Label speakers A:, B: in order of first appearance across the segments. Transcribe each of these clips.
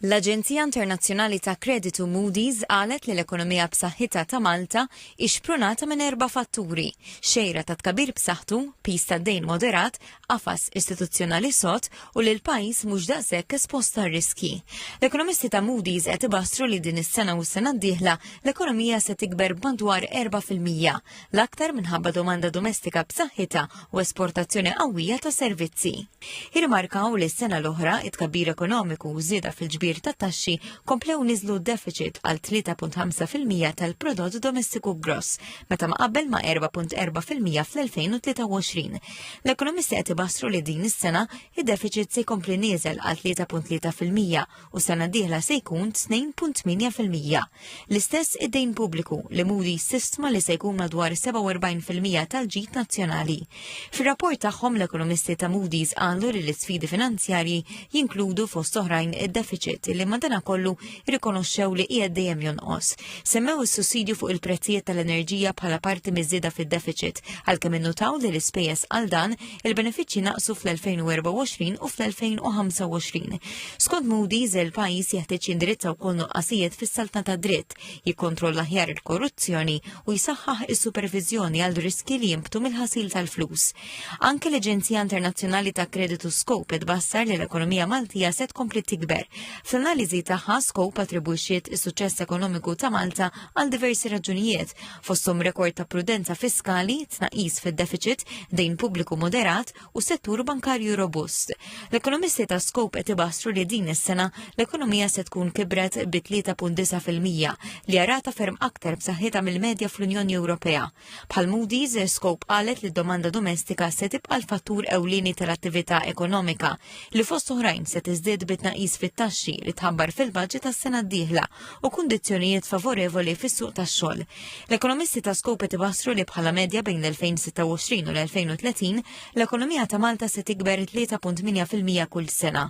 A: L-Aġenzija Internazzjonali ta' Kreditu Moody's qalet li l-ekonomija b'saħħitha ta' Malta hi xprunata minn erba' fatturi, xejra ta' tkabbir b'saħħtu, piż tad-dejn moderat, qafas istituzzjonali sod u li l-pajjiż mhux daqshekk espost għar-riskji. L-ekonomisti ta' Moody's qed ibassru li din is-sena u s-sena d-dieħla l-ekonomija se tikber b'madwar erbgħa fil-mija, l-aktar minħabba domanda domestika b'saħħitha u esportazzjoni qawwija ta' servizzi. Irmarkaw li s-sena l-oħra it-kabbir ekonomiku u żieda fil-ġbir ta' taxxi komplew niżlu deficit għal 3.5% tal-prodott domestiku gross meta ma qabel ma' 4.4% fl-2023. L-ekonomisti qed ibassru li din is-sena id-deficit se jkompli nieżel għal 3.3% u sena diħla se jkun 2.8%. L-istess id-dejn pubbliku li Moody sistma li se jkun madwar 47% tal-ġid nazzjonali. Fir-rapport tagħhom l-ekonomisti ta' Moody's qalu li l-isfidi finanzjarji jinkludu fost oħrajn id-deficit li madana kollu rikonoxxew li qiegħed dejjem jonqos. Semmew is-sussidju fuq il-prezzijiet tal-enerġija bħala parti miż-żieda fid-deficit għalkemm innutaw li l-ispejjeż għal dan Il-benefiċċji naqsu fl-2024 u fl-2025. Skont Moody's, il-pajjiż jeħtieġ jindirizza wkoll nuqqasijiet fis-saltna ta' dritt, jikkontrolla ħjar il-korruzzjoni u jsaħħaħ is-superviżjoni għal riski li jimbtu mill-ħasil tal-flus. Anke l-Aġenzija Internazzjonali ta' Kreditu Scope tbassar li l-ekonomija Maltija se tkompli tikber. Fl-analiżi tagħha Scope attribwixxiet is-suċċess ekonomiku ta' Malta għal diversi raġunijiet, fosthom rekord ta' prudenza fiskali, tnaqis fid-deficit, dejn pubbliku moderat u settur bankarju robust. L-ekonomisti ta' Scope qed ibassru li din is-sena l-ekonomija se tkun kibret bi 3.9% li jarata ferm aktar b'saħħitha mill-medja fl-Unjoni Ewropea. Bħal Moody's, Scope qalet li d-domanda domestika se tibqa' l-fattur ewlieni tal-attività ekonomika li fost oħrajn se tiżdied bi tnaqqis fit-taxxi li tħabbar fil-baġit tas-sena d-dieħla u kundizzjonijiet favorevoli fis-suq tax-xogħol. L-ekonomisti ta' Scope tibassru li bħala medja bejn l-2026 u l-2030 l-ekonomija ta' Malta se tikber 3.8% kull sena.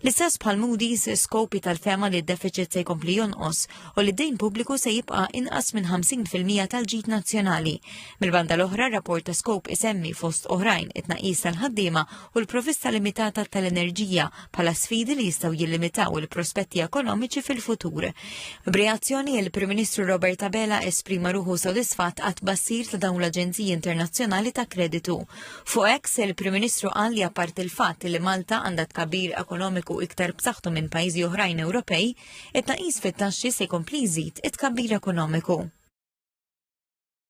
A: L-istess bħal Moody's Scope tal-fema li d-deficit se jkompli jonqos u li d-dejn pubbliku se jibqa' inqas minn 50% tal-ġid nazzjonali. Mill-banda l-oħra, rapport ta' Scope isemmi fost oħrajn it-tnaqqis tal-ħaddiema u l-provista limitata tal-enerġija bħala sfidi li jistgħu jillimitaw il-prospetti ekonomiċi fil-futur. B'reazzjoni il-Prim Ministru Robert Abela esprima ruħu sodisfatt għat bassir ta' dawn l-Aġenziji Internazzjonali ta' Kreditu. Fuq eks il-Prim Ministru qal li apparti il-fatt li Malta għandha tkabbir ekonomiku iktar b'saħħtu minn pajjiżi oħrajn Ewropej, it-taqis fit-taxxi se jkompli jżid it-tkabbir ekonomiku.